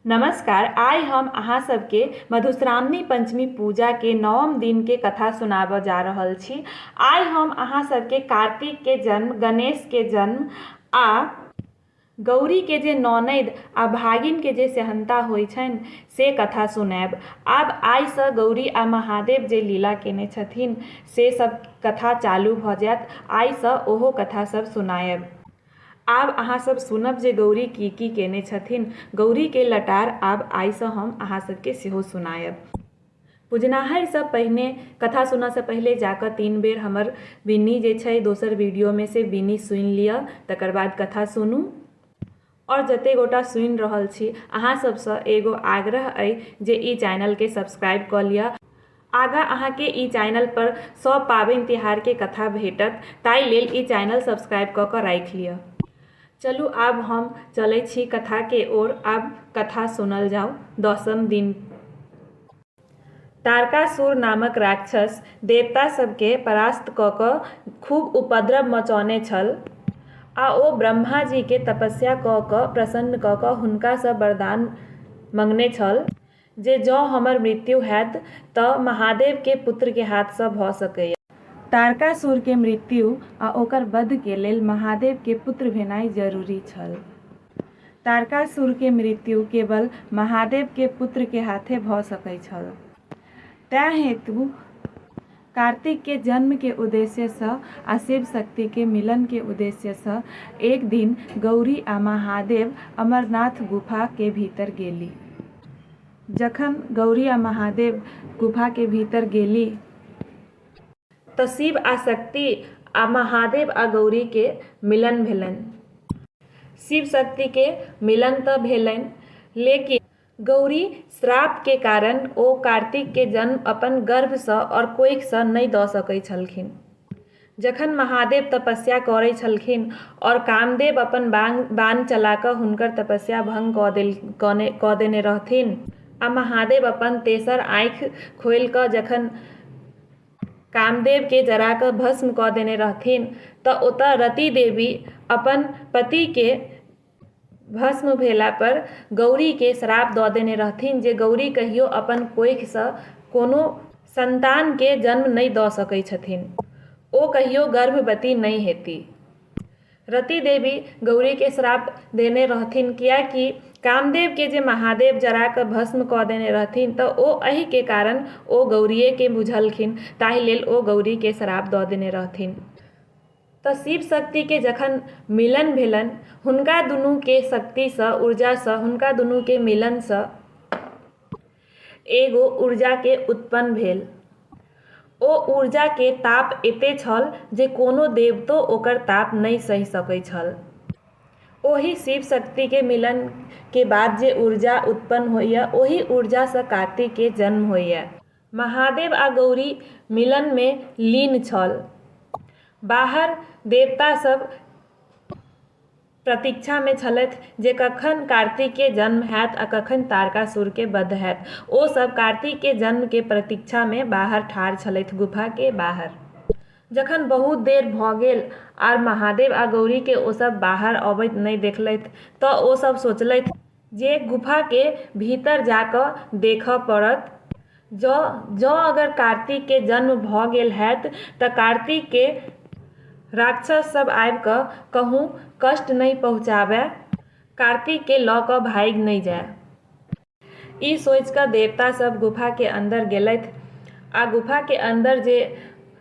नमस्कार आइ हम अहाँ सबके मधुश्रावणी पञ्चमी पूजाके नवम दिनके कथा सुनाबऽ जा रहल छी आइ हम अहाँ सबके कार्तिकके जन्म गणेशके जन्म आ गौरीके जे ननैद आ भागिनके जे सेहन्ता होइ छनि से कथा सुनाएब आब आइसँ गौरी आ महादेव जे लीला केने छथिन से सब कथा चालू भऽ जाएत आइसँ ओहो कथा सब सुनाएब आब अहाँ सभ सुनब जे गौरी की की केने छथिन। गौरी के लटार आब आइ सँ हम अहाँ सभ के सेहो सुनायब। पुजनाहैर सँ पहिने, कथा सुनऽ सँ पहिले जा कऽ तीन बेर हमर विनी जे छै दोसर वीडियो में से विनी सुनि लियऽ तकर बाद कथा सुनू। और जते गोटा सुनि रहल छी अहाँ सभ सँ एगो आग्रह अइ जे ई चैनल के सब्सक्राइब कऽ लियऽ। आगाँ अहाँकेँ ई चाइनल पर सभ पाबनि तिहारके कथा भेटत ताहि लेल ई चाइनल सब्सक्राइब कऽ कऽ राखि लिअ चलू आब हम चलैत छी कथाके ओर आब कथा सुनल जाउ दसम दिन तारकासुर नामक राक्षस देवता सभके परास्त कऽ कऽ खूब उपद्रव मचौने छल आ ओ ब्रह्माजीके तपस्या कऽ कऽ प्रसन्न कऽ कऽ हुनकासँ वरदान मँगने छल जे जँ हमर मृत्यु हएत तँ महादेवकेँ पुत्रकेँ हाथसँ भऽ सकैए। तारकासुरकेँ मृत्यु आ ओकर बधकेँ लेल महादेवकेँ पुत्र भेनाइ जरूरी छल। तारकासुरकेँ मृत्यु केवल महादेवकेँ पुत्रकेँ हाथे भऽ सकै छल। तँए हेतु कार्तिक के जन्म के उद्देश्य स आ शिव शक्ति के मिलन के उद्देश्य स एक दिन गौरी आ महादेव अमरनाथ गुफा के भीतर गेली। जखन गौरी आ महादेव गुफा के भीतर गेली। त शिव आ शक्ति आ महादेव आ गौरी के मिलन भेलनि। शिव शक्ति के मिलन त भेलनि लेकिन। गौरी श्राप के कारण ओ कार्तिक के जन्म अपन गर्भ सँ और कोइख सँ नइ द सकै छलखिन। जखन महादेव तपस्या करै छलखिन और कामदेव अपन बाण चला क हुनकर तपस्या भंग क देने रहथिन आ महादेव अपन तेसर आँइख खोइल क जखन कामदेव के जरा क भस्म क देने रहथिन त ओतय रति देवी अपन पति के भस्म भेलापर गौरीकेँ श्राप दऽ देने रहथिन जे गौरी कहियो अपन कोखिसँ कोनो सन्तानकेँ जन्म नहि दऽ सकैत छथिन। ओ कहियो गर्भवती नहि हेतीह। रति देवी गौरीकेँ श्राप देने रहथिन किएक कि कामदेवकेँ जे महादेव जरा कऽ भस्म कऽ देने रहथिन तँ ओ एहिकेँ कारण ओ गौरीएकेँ बुझलखिन ताहि लेल ओ गौरीकेँ श्राप दऽ देने रहथिन। तँ शिव शक्तिकेँ जखन मिलन भेलनि हुनका दुनूकेँ शक्तिसँ ऊर्जासँ हुनका दुनूकेँ मिलनसँ एगो ऊर्जाकेँ उत्पन्न भेल। ओ ऊर्जाकेँ ताप एते छल जे कोनो देवतो ओकर ताप नहि सहि सकै छल। ओहि शिव शक्तिकेँ मिलनकेँ बाद जे ऊर्जा उत्पन्न होइए ओहि ऊर्जासँ कार्तिकेँ जन्म होइए। महादेव आ गौरी मिलनमे लीन छल। बाहर देवता सभ प्रतीक्षामे छलथि जे कखन कार्तिककेँ जन्म हएत आ कखन तारकासुरकेँ बध हएत। ओ सभ कार्तिककेँ जन्मकेँ प्रतीक्षामे बाहर ठाढ़ छलथि गुफाकेँ बाहर। जखन बहुत देर भऽ गेल आर महादेव आ गौरीकेँ ओ सभ बाहर अबैत नहि देखलथि तँ ओ सभ सोचलथि। जे गुफाके भीतर जा कऽ देखऽ पड़त जँ जँ अगर कार्तिकके जन्म भऽ गेल होयत तऽ कार्तिकके राक्षस सब आबि कऽ कहुँ कष्ट नहि पहुँचाबए कार्तिकके लऽ कऽ भागि नहि जाय ई सोचि कऽ देवता सब गुफाके अन्दर गेलथि आ गुफाके अन्दर जे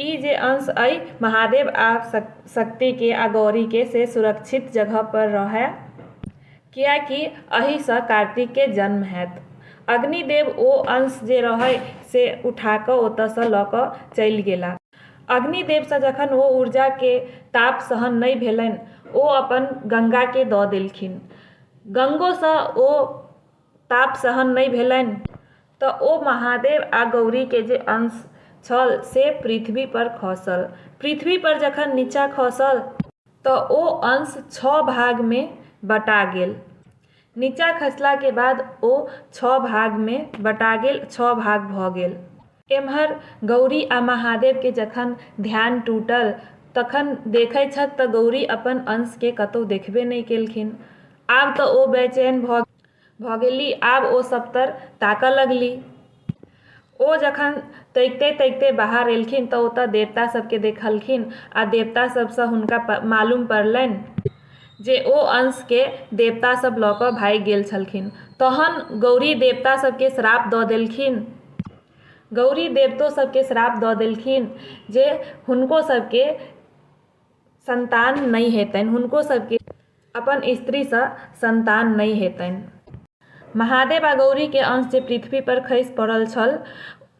ई जे अंश अइ महादेव आ शक्ति के आ गौरी के से सुरक्षित जगह पर रहए। किएकि अहि सँ कार्तिक के जन्म हएत। अग्नि देव ओ अंश जे रहए से उठा कऽ ओतऽ सँ लऽ कऽ चलि गेला। अग्नि देव सँ जखन ओ ऊर्जा के ताप सहन नहि भेलनि ओ अपन गंगा के दऽ देलखिन। गंगो सँ ओ ताप सहन नहि भेलनि तऽ ओ महादेव आ गौरीके जे अंश छल से पृथ्वी पर खसल। पृथ्वी पर जखन नीचा खसल तऽ ओ अंश छह भागमे बँटा गेल। नीचा खसलाके बाद ओ छह भागमे बँटा गेल, छह भाग भऽ गेल। एम्हर गौरी आ महादेव केँ जखन ध्यान टूटल तखन देखैत छथि तँ गौरी अपन अंश केँ कतहु देखबे नहि केलखिन। आब तँ ओ बैचैन भऽ गेलीह। आब ओ सभतर ताकय लगलीह। ओ जखन तैकते-तैकते बाहर एलखिन तँ ओतय देवता सभ केँ देखलखिन आ देवता सभ सँ हुनका मालूम पड़लैन। जे ओ अंशकेँ देवता सभ लऽ कऽ भागि गेल छलखिन। तहन गौरी देवता सभकेँ श्राप दऽ देलखिन। गौरी देवतो सभकेँ श्राप दऽ देलखिन जे हुनको सभकेँ संतान नहि हेतनि। हुनको सभकेँ अपन स्त्रीसँ संतान नहि हेतनि। महादेव आ गौरीक अंश जे पृथ्वीपर खसि पड़ल छल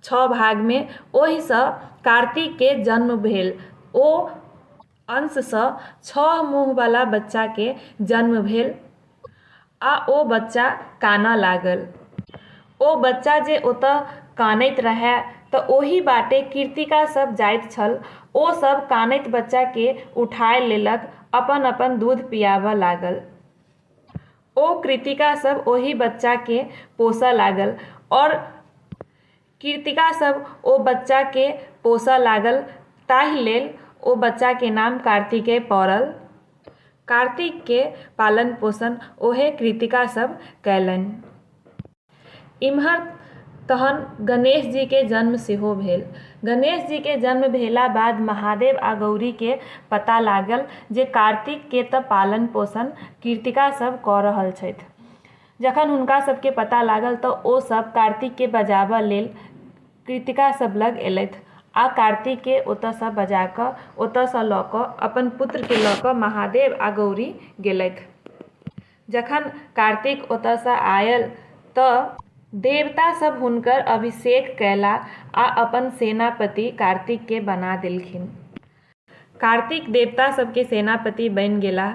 छह भागमे, ओहिसँ कार्तिककेँ जन्म भेल। ओ अंशसँ छह मुँहबला बच्चाके जन्म भेल आ ओ बच्चा कानऽ लागल। ओ बच्चा जे ओतऽ कानैत रहए तँ ओही बाटे कीर्तिका सभ जाइत छल। ओ सभ कानैत बच्चाके उठाए लेलक अपन-अपन दूध पियाबऽ लागल। ओ कृतिका सभ ओही बच्चाके पोसऽ लागल और कृत्तिकासभ ओ बच्चाकेँ पोसय लागल ताहि लेल ओ बच्चाके नाम कार्तिकेय पड़ल। कार्तिकके पालन पोषण ओहे कृत्तिकासभ कयलनि। इम्हर तहन गणेशजीके जन्म सेहो भेल। गणेशजीके जन्म भेला बाद महादेव आ गौरीके पता लागल जे कार्तिकके तँ पालन पोषण कृत्तिकासभ कऽ रहल छथि। जखन हुनका सभकेँ पता लागल तँ ओ सभ कार्तिककेँ बजाबऽ लेल कृत्तिका सभ लग एलथि आ कार्तिककेँ ओतऽ सँ बजा कऽ ओतऽ सँ लऽ कऽ अपन पुत्रकेँ लऽ कऽ महादेव आ गौरी गेलथि। जखन कार्तिक ओतऽ सँ आयल तँ देवता सभ हुनकर अभिषेक कयला आ अपन सेनापति कार्तिककेँ बना देलखिन। कार्तिक देवता सभकेँ सेनापति बनि गेलाह।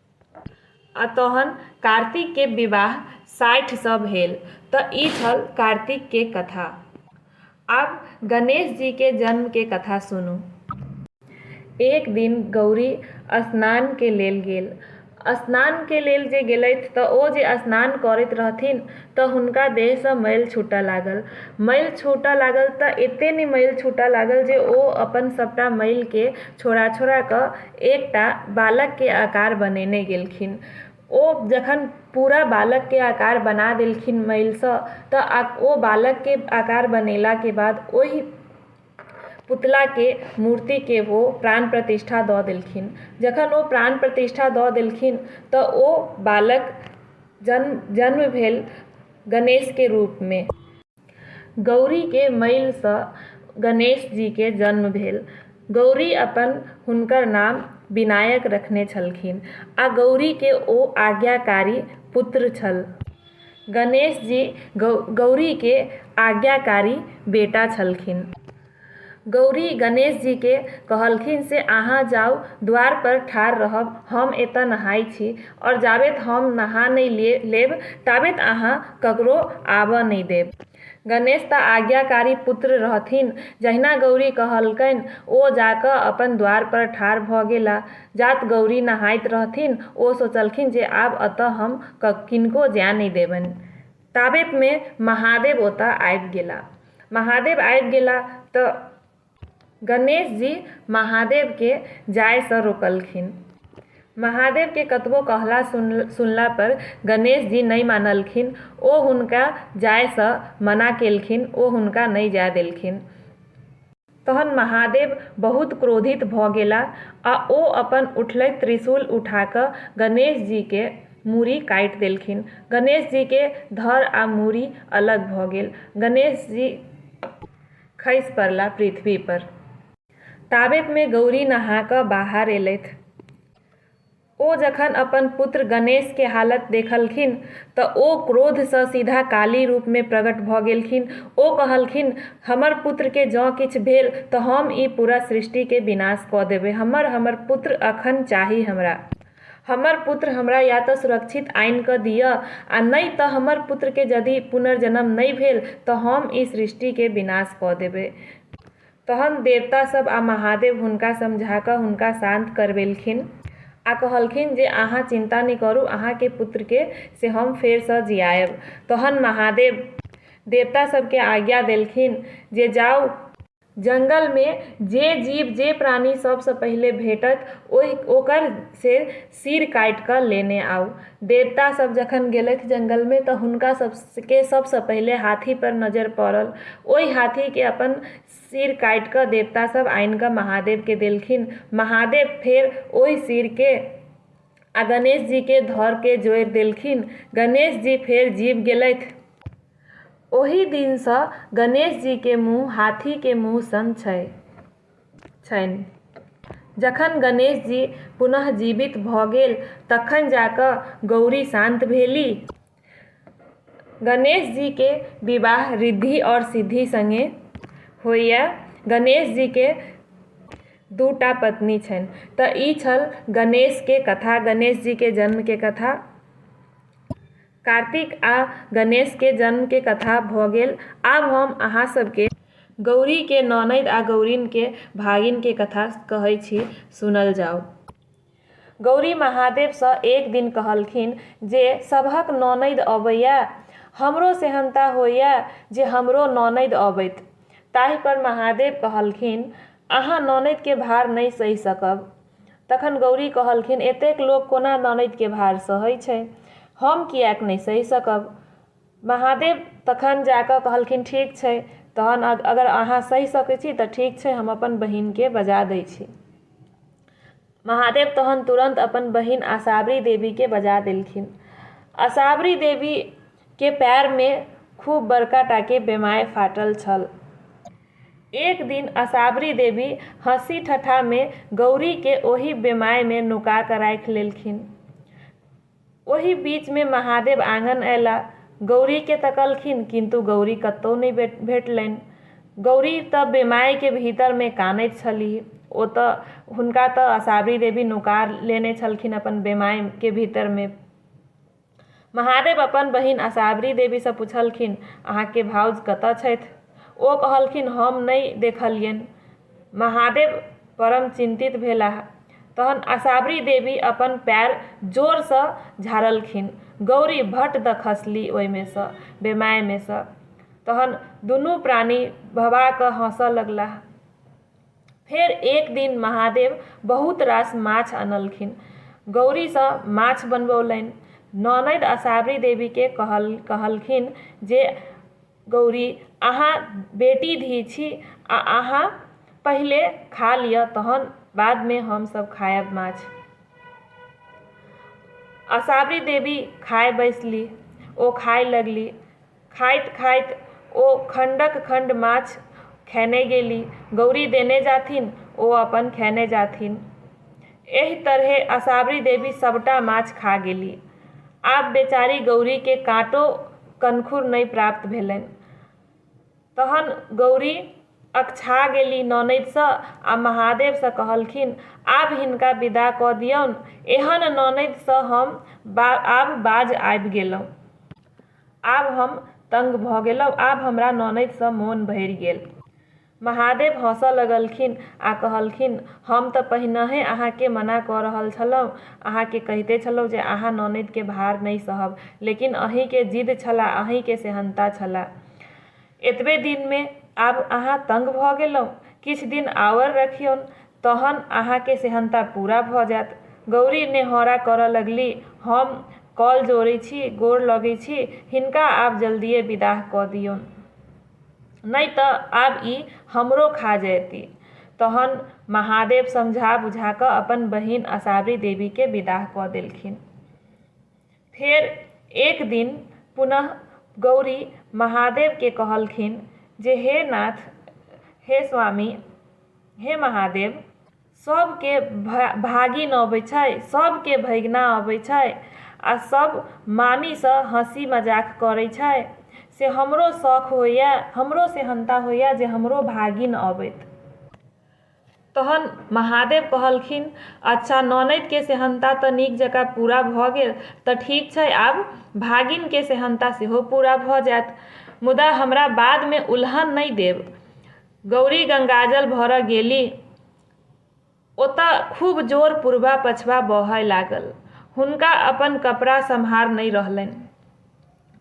आ तहन कार्तिक के विवाह साठि सँ भेल त ई छल कार्तिक के कथा। आब गणेश जी के जन्म के कथा सुनू। एक दिन गौरी स्नान के लेल गेल। स्नान के लेल जे गेलथि त ओ जे स्नान करैत रहथिन त हुनका देह सँ मैल छूटऽ लागल। मैल छूटऽ लागल त एते ने मैल छूटऽ लागल जे ओ अपन सबटा मैल के छोड़ा-छोड़ा क एकटा बालकके आकार बनेने गेलखिन ओ जखन पूरा बालकके आकार बना देलखिन मैलसँ तऽ ओ बालकके आकार बनेलाके बाद ओहि पुतलाके मूर्तिके ओ प्राण प्रतिष्ठा दऽ देलखिन जखन ओ प्राण प्रतिष्ठा दऽ देलखिन तऽ ओ बालक जन्म जन्म भेल गणेशके रूपमे गौरी के मइल सँ गणेश जी के जन्म भेल। गौरी अपन हुनकर नाम विनायक रखने छलखिन आ गौरी के ओ आज्ञाकारी पुत्र छल। गणेश जी गौरी के आज्ञाकारी बेटा छलखिन। गौरी गणेशजीकेँ कहलखिन से अहाँ जाउ, द्वारपर ठाढ़ रहब, हम एतए नहाइ छी। और जाबेत हम नहा नै लेब ताबेत अहाँ ककरो आबए नै देब। गणेश तँ आज्ञाकारी पुत्र रहथिन। जहिना गौरी कहलकैन ओ जा कऽ अपन द्वारपर ठाढ़ भऽ गेला। जात गौरी नहाइत रहथिन ओ सोचलखिन जे आब एतए हम किनको जाए नै देबैन। ताबेतमे महादेव ओतऽ आबि गेला महादेव आबि गेला तऽ गणेश जी महादेवके जाइसँ रोकलखिन महादेवके कतबो कहला सुनलापर गणेश जी नहि मानलखिन ओ हुनका जाइसँ मना केलखिन ओ हुनका नहि जाइ देलखिन तहन महादेव बहुत क्रोधित भऽ गेला आ ओ अपन उठलैत त्रिशूल उठा कऽ गणेश जी के मूड़ी काटि देलखिन। गणेश जी के धड़ आ मूड़ी अलग भऽ गेल। गणेश जी खसि पड़ला पृथ्वी पर। ताबेत मे गौरी नहा कऽ बाहर एलथि। ओ जखन अपन पुत्र गणेश के हालत देखलखिन त ओ क्रोध सँ सीधा काली रूप मे प्रगट भ गेलखिन। ओ कहलखिन, हमर पुत्र के जँ किछु भेल त हम ई पूरा सृष्टि के विनाश क देबै। हमर हमर पुत्र अखन चाही हमरा। हमर पुत्र हमरा या त सुरक्षित आनि क दिअ आ नइ त हमर पुत्र के जदि पुनर्जन्म नइ भेल त हम ई सृष्टि के विनाश क देबै। तहन देवता सभ आ महादेव हुनका समझा कऽ हुनका शान्त करबेलखिन आ कहलखिन जे अहाँ चिन्ता नहि करू अहाँ के पुत्र के से हम फेर सँ जियायब। तहन महादेव देवता सभ के आज्ञा देलखिन जे जाउ। जंगल मे जे जीव जे प्राणी सभ सँ पहिले भेटत ओहि ओकर से सिर काटि कऽ लेने आउ। देवता सभ जखन गेलथि जंगल मे त हुनका सभ केँ सभ सँ पहिले हाथी पर नजर पड़ल। ओहि हाथी केँ अपन सिर काटि कऽ देवता सभ आनि कऽ महादेव केँ देलखिन। महादेव फेर ओहि सिर केँ आ गणेश जी केँ धड़ केँ जोड़ि देलखिन। गणेश जी फेर जीब गेलथि। ओहि दिन सँ गणेश जी केँ मुँह हाथी केँ मुँह सन छै। छनि। जखन गणेश जी पुनः जीवित भऽ गेल तखन जा कऽ गौरी शान्त भेली। गणेश जी के विवाह ऋद्धि और सिद्धि संगे होइए। गणेश जी के दूटा पत्नी छनि। तऽ ई छल गणेश के कथा, गणेश जी के जन्म के कथा। कार्तिक आ गणेश के जन्म के कथा भऽ गेल। आब हम अहाँ सब के गौरी के ननैद आ गौरिन के भागिन के कथा कहै छी, सुनल जाउ। गौरी महादेव सँ एक दिन कहलखिन जे सबहक ननैद अबैए, हमरो सेहन्ता होइए जे हमरो ननैद अबैत। ताहि पर महादेव कहलखिन, अहाँ ननैद के भार नहि सहि सकब। तखन गौरी कहलखिन एतेक लोक कोना ननैद के भार सहै छै। हम किएक नै सहि सकब। महादेव तखन जा कऽ कहलखिन ठीक छै। तहन अगर अहाँ सहि सकै छी तऽ ठीक छै हम अपन बहिन के बजा दै छी। महादेव तहन तुरंत अपन बहिन असावरी देवी के बजा देलखिन। असावरी देवी के पैर में खूब बड़का टा के बेमाय फाटल छल। एक दिन असाबरी देवी हँसी ठठा मे गौरी के ओहि बेमाय मे नुका क राखि लेलखिन। ओहि बीच मे महादेव आँगन अयला। गौरी के तकलखिन किन्तु गौरी कतौ नहि भेटलनि। गौरी त बेमाय के भीतर मे कानैत छलीह। ओ त हुनका त असाबरी देवी नुका लेने छलखिन अपन बेमाय के भीतर मे। महादेव अपन बहिन असावरी देवीसँ पुछलखिन, अहाँके भाउज कतऽ छथि? ओ कहलखिन, हम नै देखलियनि। महादेव परम चिन्तित भेलाह। तहन असावरी देवी अपन पैर जोरसँ झाड़लखिन। गौरी भट्ट दऽ खसली ओइमेसँ, बेमायमेसँ। तहन दुनू प्राणी भभा कऽ हँसऽ लगलाह। फेर एक दिन महादेव बहुत रास माछ अनलखिन गौरीसँ माछ बनबौलनि ननद आ साबरी देवीके कहल कहलखिन जे गौरी अहाँ बेटी धी छी आ अहाँ पहिले खा लिअ तहन बादमे हमसभ खायब माछ आ साबरी देवी खाय बैसली ओ खाय लगली खाइत-खाइत ओ खण्डक-खण्ड माछ खयने गेली। गौरी देने जाथिन, ओ अपन खयने जाथिन। एहि तरहें असाबरी देवी सभटा माछ खा गेली। आब बेचारी गौरीकेँ काँटो कनखुर नहि प्राप्त भेलनि। तहन गौरी अकछा गेली ननदिसँ आ महादेवसँ कहलखिन, आब हिनका विदा कऽ दिऔन। एहन ननदिसँ हम आब बाज आबि गेलहुँ। आब हम तंग भऽ गेलहुँ। आब हमरा ननदिसँ मोन भरि गेल। महादेव हँसऽ लगलखिन आ कहलखिन, हम तँ पहिनहेँ अहाँकेँ मना कऽ रहल छलहुँ। अहाँकेँ कहिते छलहुँ जे अहाँ ननदिकेँ भार नहि सहब। लेकिन अहींकेँ जिद छल आ अहींकेँ सेहन्ता छल। एतबे दिनमे आब अहाँ तंग भऽ गेलहुँ। किछु दिन आओर रखियौन। तहन अहाँके सेहन्ता पूरा भऽ जाएत। गौरी नेहौरा करऽ लगली। हम कल जोड़ै छी, गोड़ लगै छी। हिनका आब जल्दिये विदाह कऽ दियौन। नै तँ आब ई हमरो खा जएती। तहन महादेव समझा-बुझा कऽ अपन बहिन असावरी देवीकेँ विदाह कऽ देलखिन। फेर एक दिन पुनः गौरी महादेव के कहलखिन जे हे नाथ, हे स्वामी, हे महादेव, सब के भागिन अबै छै, सब के भैगना अबै छै आ सब मामी स हँसी मजाक करै छै से हमरो सौख होइए, हमरो सेहन्ता होइए जे हमरो भागिन अबैत। तहन महादेव कहलखिन अच्छा ननदिके सेहन्ता तऽ नीक जकाँ पूरा भऽ गेल तऽ ठीक छै आब भागिनके सेहन्ता सेहो पूरा भऽ जायत मुदा हमरा बादमे उलहन नहि देब गौरी गंगाजल भरऽ गेली ओतऽ खूब जोर पूर्वा पछवा बहय लागल हुनका अपन कपड़ा सम्हार नहि रहलनि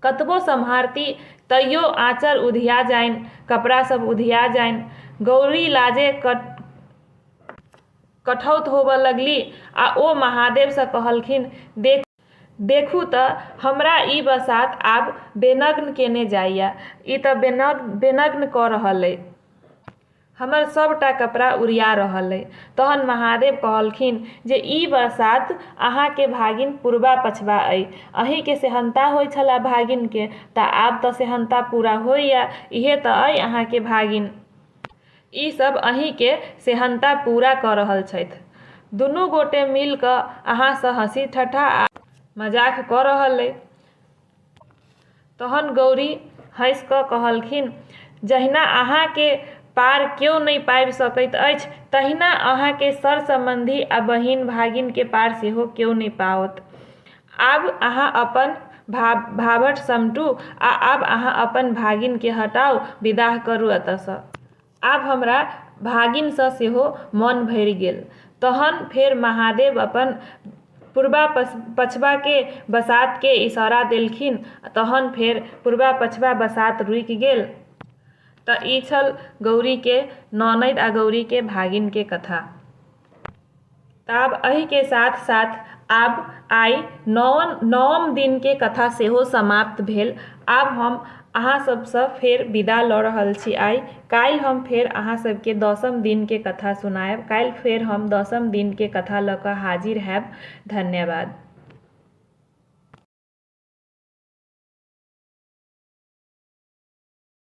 कतबो सम्हारती तैयो आँचर उधिया जाइन कपड़ा सब उधिया जाइन गौरी लाजे कठौत होबऽ लगलि आ ओ महादेव सँ कहलखिन, देखू, देखू तँ हमरा ई बसात आब बेनग्न केने जाइए, ई तँ बेनग्न कऽ रहल अइ। हमर सभटा कपड़ा उड़िया रहल अइ। तहन महादेव कहलखिन जे ई बरसात अहाँकेँ भागिन पुरबा-पछबा अइ। अहींकेँ सेहन्ता होइ छलए भागिनकेँ तँ आब तँ सेहन्ता पूरा होइए। इहे तँ अइ अहाँकेँ भागिन। ई सभ अहींकेँ सेहन्ता पूरा कऽ रहल छथि। दुनू गोटे मिलि कऽ अहाँसँ हँसी-ठट्ठा आ मजाक कऽ रहल अइ। तहन गौरी हँसि कऽ कहलखिन जहिना अहाँके पार केओ नहि पाबि सकैत अछि तहिना अहाँके सर सम्बन्धी आ बहिन भागिनके पार सेहो केओ नहि पाओत आब अहाँ अपन भा भावट समटू आ आब अहाँ अपन भागिनके हटाउ विदाह करू एतऽसँ आब हमरा भागिनसँ सेहो मन भरि गेल। तहन फेर महादेव अपन पूर्वा-पछवाके बसातकेँ इशारा देलखिन। तहन फेर पूर्वा-पछवा बसात रुकि गेल। तँ ई छल गौरीके ननदि आ गौरीके भागिनके कथा। तऽ आब एहिके साथ साथ आब आइ नओम नओम दिनके कथा सेहो समाप्त भेल आब हम अहाँ सभसँ फेर विदा लऽ रहल छी आइ काल्हि हम फेर अहाँ सभके दसम दिनके कथा सुनायब काल्हि फेर हम दसम दिनके कथा लऽ कऽ हाजिर होयब धन्यवाद